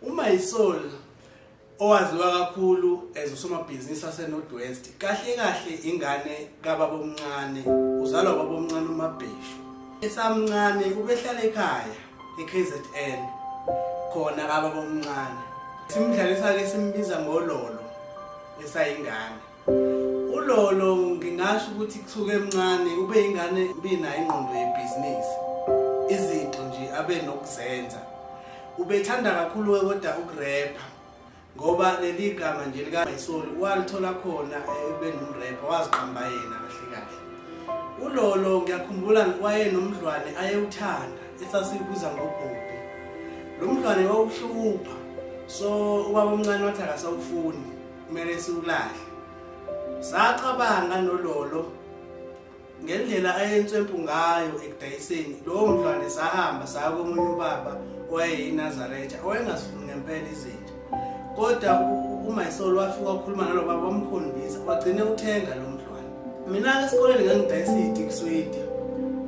UMaisol owaziwa kakhulu as usomabhizinisi waseNorth West kahle kahle ingane kababa omncane uzalwa baba omncane uMabheshu esamncane ubehlala ekhaya eKZN khona kababa omncane simdlalisa ke simbiza ngololo esayingane uLolo ngingasho ukuthi kusuke emncane ube ingane mina ingqondo yebhizinisi izinto nje abe nokuzenza ubethanda kakhulu kodwa ukurepha ngoba leli gama nje likamayisoli walithola khona ebe nomrepha waziqamba yena kahle kahle ulolo ngiyakhumbula wayenomdlwane ayewuthanda esasiyibuza ngobhubhi lo mdlwane wawuhlupha so ubaba omncane wathi akasawufuni kumele siwulahle sacabanga nololo ngendlela ayenswempu ngayo ekudayiseni lowo mntwana sahamba saya komunye ubaba owayeyiNazaretha owayengasifuni ngempela izinja kodwa uMaysol wafika wakhuluma nalo baba wamkhombisa wagcine uthenga lo mntwana mina-ke esikoleni ngangidayisa iy'tikiswidi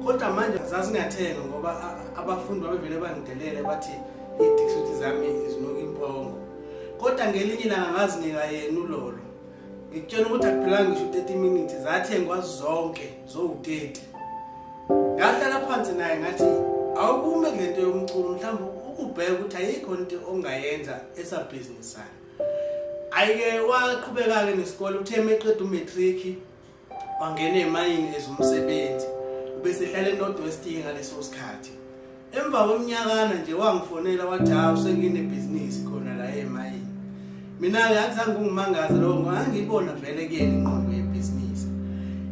kodwa manje zazingathenga ngoba abafundi babevele bangidelele bathi iy'tikiswidi zami zinuka impongo kodwa ngelinye ilanga ngazinika yena ulolo ngikutshela ukuthi akuphelanga ngisho 30 minutes zathengwa zonke zowu-30 ngahlala phansi naye ngathi awukume kule nto yomculo mhlawumbe ukubheka ukuthi ayikho nto ongayenza esabhizinisana ayike waqhubeka-ke nesikole uthe meqeda umatriki wangena emayini ezomsebenzi ubesehlala eNorthwest ngaleso sikhathi emva kweminyakana nje wangifonela wathi hawu senginebhizinisi khona la emayini mina-ke akuzange ungimangaze lowo ngangiyibona vele kuyena ingqondo yebhizinisi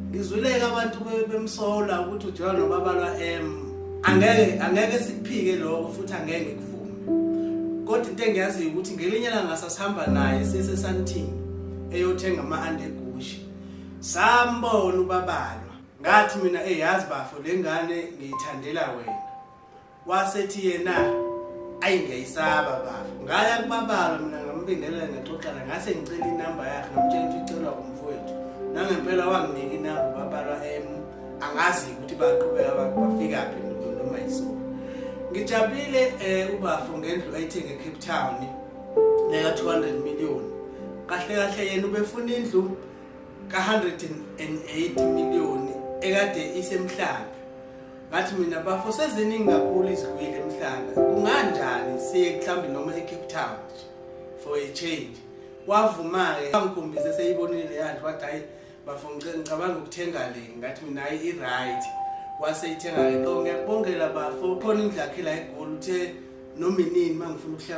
ngizwileke abantu bemsola ukuthi ujola nobaba lwa-m angeke angeke sikuphike lokho futhi angeke ngikuvume kodwa into engiyaziyo ukuthi ngelinye langa sasihamba naye sisesanting eyothenga ama-andegu sambona ubabalwa ngathi mina eyazi bafo lengane ngiyithandela wena wasethi yena ayi ngiyayisaba bafo ngaya kubabalwa mina ngambingelela ngexoxana ngase ngicela inamba yakhe ngamtshela ukuthi icelwa umfowethu nangempela wanginika inamba ubabalwa em angazi ukuthi baqhubeka bafika phi noma yisona ngijabulile um ubafo ngendlu ayithenge ecape town neka 200 million kahle kahle yena ubefuna indlu ka 108 million ekade isemhlanga ngathi mina bafo seziningi kakhulu izigwili emhlanga kunganjani siye mhlawumbe noma eCape Town for a change wavuma-ke angikhombise seyibonile yandlu wathi hayi bafo ngicabanga ukuthenga le ngathi mina hayi i-right waseyithenga-ke so ngiyakubongela bafo khona indlu yakhe la egoli uthe noma inini uma ngifuna ukuhlala